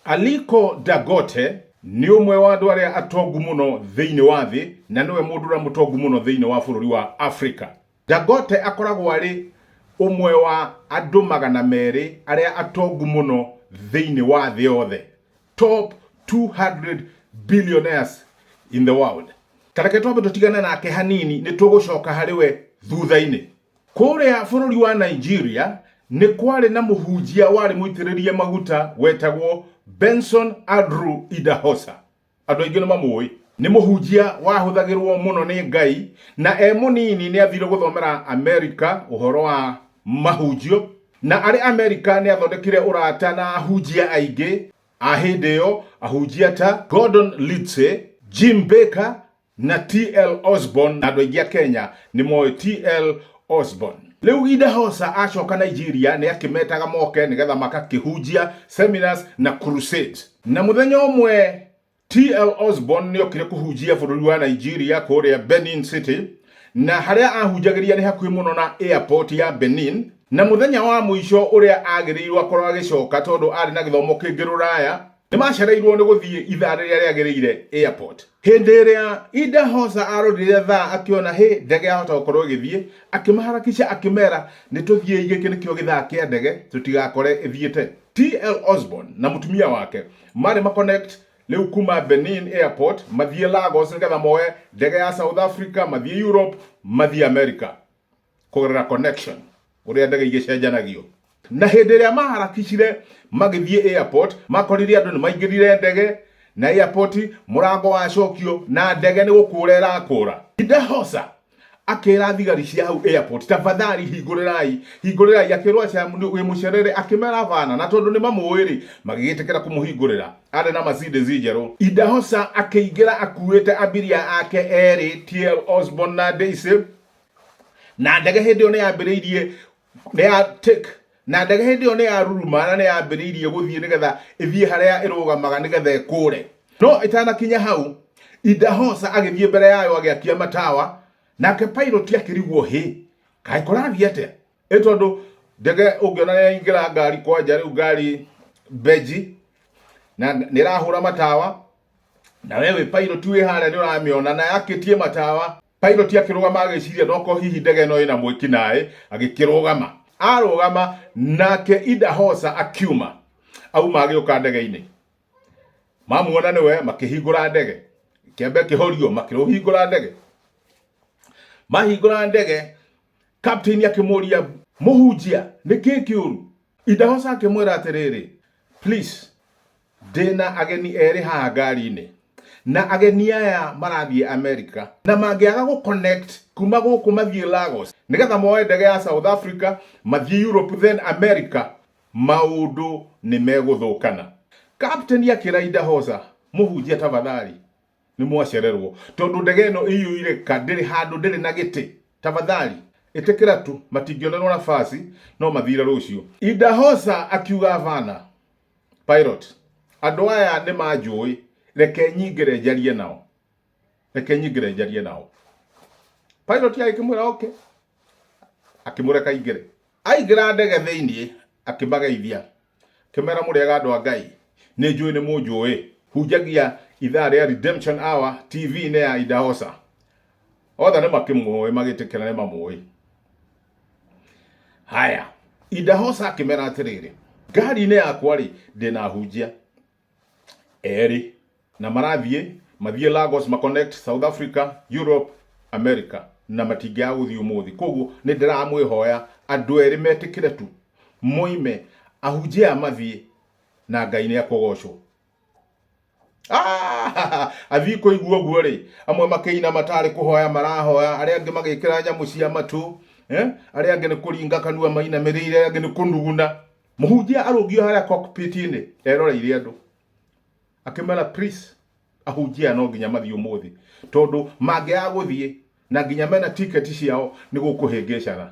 Aliko Dangote nĩ ũmwe wa andũ arĩa atongu mũno thĩinĩ wa thĩ na nĩwe mũndũ ũrĩa mũtongu mũno thĩinĩ wa bũrũri wa Afrika. Dangote akoragwo arĩ ũmwe wa andũ magana merĩ arĩa atongu mũno thĩinĩ wa thĩ yothe, top 200 billionaires in the world. Ta reke twambe tũtigane nake hanini, nĩ tũgũcoka harĩ we thutha-inĩ. Kũrĩa bũrũri wa Nigeria nĩ kwarĩ na mũhunjia warĩ mũitĩrĩrie maguta wetagwo Benson Andrew Idahosa. Andũ aingĩ nĩ mamũĩ. Nĩ mũhunjia wahũthagĩrũo mũno nĩ Ngai, na e mũnini nĩ aathire gũthomera Amerika ũhoro wa mahunjio, na arĩ Amerika nĩ aathondekire ũrata na ahunjia aingĩ a hĩndĩ ĩyo, ahunjia ta Gordon Lidse, Jim Baker, Na TL Osborn na andũ aingĩ a Kenya nĩ moĩ TL Osborn. Rĩu Idahosa acoka Nigeria nĩ akĩmetaga moke nĩgetha magakĩhunjia, seminars na crusades. Na mũthenya ũmwe TL Osborn nĩ okire kũhunjia bũrũri wa Nigeria kũrĩa Benin City, na harĩa ahunjagĩria nĩ hakuhĩ mũno na airport ya Benin, na mũthenya wa mũico ũrĩa agĩrĩirũo akorũo agĩcoka tondũ arĩ na gĩthomo kĩngĩ rũraya, Nĩ maacereirwo nĩ gũthiĩ ithaa rĩrĩa rĩagĩrĩire airport. Hĩndĩ ĩrĩa Ida Hosa arorire thaa akĩona hĩ ndege yahota gũkorwo ĩgĩthiĩ, akĩmaharakisha akĩmera nĩ tũthiĩi gĩkĩ nĩkĩo gĩthaa kĩa ndege tũtigakore ĩthiĩte. TL Osborn na mũtumia wake marĩ ma connect rĩu kuma Benin airport mathiĩ Lagos nĩgetha moe ndege ya South Africa mathiĩ Europe mathiĩ America. kũgerera connection ũrĩa ndege igĩcenjanagio na hĩndĩ ĩrĩa maharakicire magĩthiĩ airport makorire andũ nĩ maingĩrire ndege na airport mũrango wacokio na ndege nĩ gũkũra ĩrakũra idahosa akĩra thigari cia hau airport tafadhali hingũrĩrai hingũrĩrai akĩrwo aca wĩ mũcerere akĩmera bana na tondũ nĩ mamũĩ rĩ magĩgĩtĩkĩra kũmũhingũrĩra arĩ na Mercedes njerũ idahosa akĩingĩra akuĩte abiria ake erĩ TL Osborne na Daisy na ndege hĩndĩ ĩyo nĩ yambĩrĩirie nĩ ya take na ndege hĩndĩ ĩyo nĩ ya ruruma na nĩ yambĩrĩirie gũthiĩ nĩgetha ĩthiĩ harĩa ĩrũgamaga nĩgetha ĩkũre no ĩtanakinya hau Idahosa agĩthiĩ mbere yayo agĩakia matawa nake pilot akĩrigwo hĩ kaĩ kũrathiĩ atĩa ĩ tondũ ndege ũngĩona nĩ yaingĩra ngari kwanja rĩu ngari mbenji na nĩ ĩrahũra matawa na we wĩ pilot wĩ harĩa nĩ ũramĩona na yakĩtie matawa Piloti akĩrũgama agĩciria noko hihi ndege ĩno ĩna mwĩki naĩ, agĩkĩrũgama. Arũgama nake Ida Hosa akiuma. Auma agĩũka ndege-inĩ. Mamuona nĩwe makĩhingũra ndege. Kĩambe kĩhorio makĩrũhingũra ndege. Mahingũra ndege, captain akĩmũria mũhunjia nĩkĩ kĩũru? Ida Hosa akĩmwĩra atĩrĩrĩ, please Ndĩna ageni erĩ haha ngari-inĩ na ageni aya marathiĩ America na mangĩaga gũ connect kuma gũkũ mathiĩ Lagos nĩgetha moe ndege ya South Africa mathiĩ Europe then America maũndũ nĩ megũthũkana. Captain akĩra Idahosa, Mũhunjia tabathari nĩ mwacererwo tondũ ndege ĩno ĩiyũire ka ndĩrĩ handũ ndĩrĩ na gĩtĩ tabathari ĩtĩkĩra tu matingĩonerwo nabaci no mathire rũciũ. Idahosa akiuga Havana Pilate, andũ aya nĩ manjũĩ, reke nyingĩre njarie nao. Reke nyingĩre njarie nao. Pilate agĩkĩmwĩra oke, akĩmũreka aingĩre. Aingĩra ndege thĩinĩ, akĩmageithia, akĩmera mũrĩega andũ a Ngai, nĩ njũĩ nĩ mũnjũĩ, hunjagia ithaa rĩa Redemption Hour TV-inĩ ya Idahosa. Othe nĩ makĩmũĩ magĩtĩkĩra nĩ mamũĩ. haya indahoca akĩmera atĩrĩrĩ ngari-inĩ yakwa rĩ ndĩna hunjia erĩ na marathiĩ mathiĩ Lagos ma connect South Africa Europe America na matingĩaga gũthiĩ ũmũthĩ koguo nĩ ndĩramwĩhoya andũ erĩ metĩkĩre tu moime ahunjia aya mathiĩ na ngai nĩ akũgocwo Ah! athiĩ kũigua ũguo rĩ amwe makĩina matarĩ kũhoya marahoya arĩa angĩ magĩkĩra nyamũ cia matũ eh? arĩa angĩ nĩ kũringa kanua mainamĩrĩire arĩa angĩ nĩ kũnuguna mũhunjia arũngio harĩa cockpit-inĩ eroreire andũ akĩmera please ahunjia no nginya mathiĩ ũmũthĩ tondũ mangĩaga gũthiĩ na nginya mena tiketi ciao nĩ gũkũhĩngĩcaga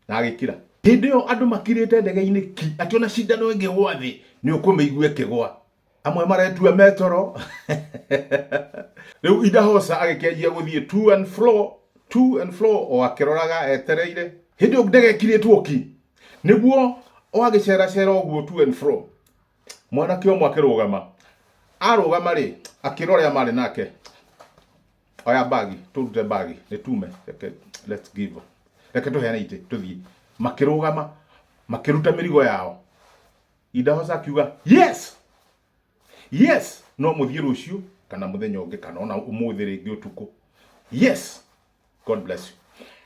na agĩkira hĩndĩ ĩyo andũ makirĩte ndege-inĩ ki atĩ ona cindano ĩngĩgwa thĩ nĩ ũkũmĩigua ĩkĩgwa amwe maretua metoro rĩu indahosa agĩkĩanjia gũthiĩ to and fro to and fro o akĩroraga etereire hĩndĩ ĩyo ndege ĩkirĩtwo ki nĩguo o agĩceracera ũguo to and fro mwanake ũmwe akĩrũgama arũgama rĩ akĩrora arĩa marĩ nake oya mbagi tũrute mbagi nĩ tume reke let's give reke tũheane itĩ tũthiĩ makĩrũgama makĩruta mĩrigo yao indahoca akiuga yes yes no mũthiĩ rũciũ kana mũthenya ũngĩ kana ona ũmũthĩ rĩngĩ ũtukũ yes god bless you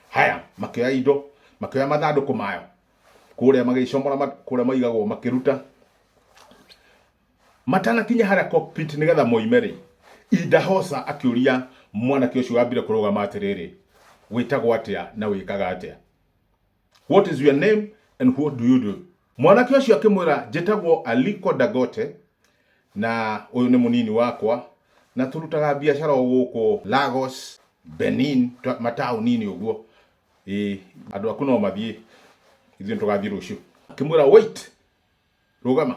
haya makĩoya indo makĩoya mathandũkũ mayo kũrĩa magĩcomora kũrĩa maigagwo makĩruta Matanakinya harĩa cockpit nĩgetha moime-rĩ, Idahosa akĩũria mwanake ũcio wambire kũrũgama atĩrĩrĩ, Wĩtagwo atĩa na wĩkaga atĩa? What is your name and what do you do? Mwanake ũcio akĩmwĩra, Njĩtagwo Aliko Dangote na ũyũ nĩ mũnini wakwa na tũrutaga biacara o gũkũ Lagos, Benin, mataũni-inĩ ũguo. Ĩĩ, andũ aku no mathiĩ, ithuĩ nĩtũgathiĩ rũciũ. Akĩmwĩra, Wait! Rũgama.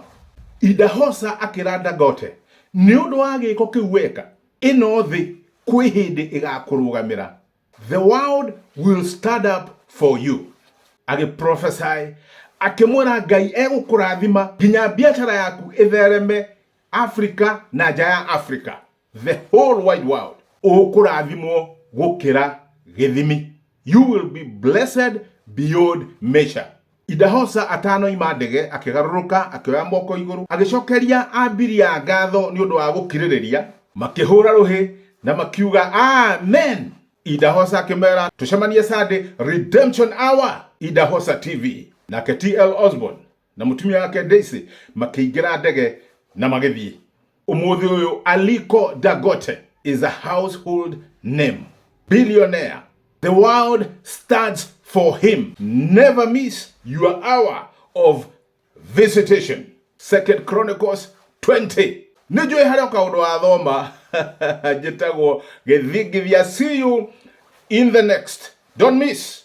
Idahosa akĩra Dangote, Nĩ ũndũ wa gĩĩko kĩu weka, ĩno thĩ kwĩ hĩndĩ ĩgakũrũgamĩra. The world will stand up for you. Agĩ prophesy, akĩmwĩra Ngai egũkũrathima nginya biacara yaku ĩthereme Afrika na nja ya Afrika. the whole wide world ũkũrathimwo gũkĩra gĩthimi you will be blessed beyond measure Idahosa atanoima ndege akĩgarũrũka akĩoya moko igũrũ agĩcokeria ambiria ngatho nĩ ũndũ wa gũkirĩrĩria makĩhũra rũhĩ na makiuga amen Idahosa akĩmera tũcemanie Sunday redemption hour Idahosa TV nake TL Osborne na mutumia wake Daisy makĩingĩra ndege na magĩthiĩ. Ũmũthĩ ũyũ Aliko Dangote is a household name. Billionaire. The world stands for him. Never miss your hour of visitation. Second Chronicles 20. Nĩ njũĩ harĩ o kaũndũ wa thoma njĩtagwo gĩthingithia. See you in the next. Don't miss.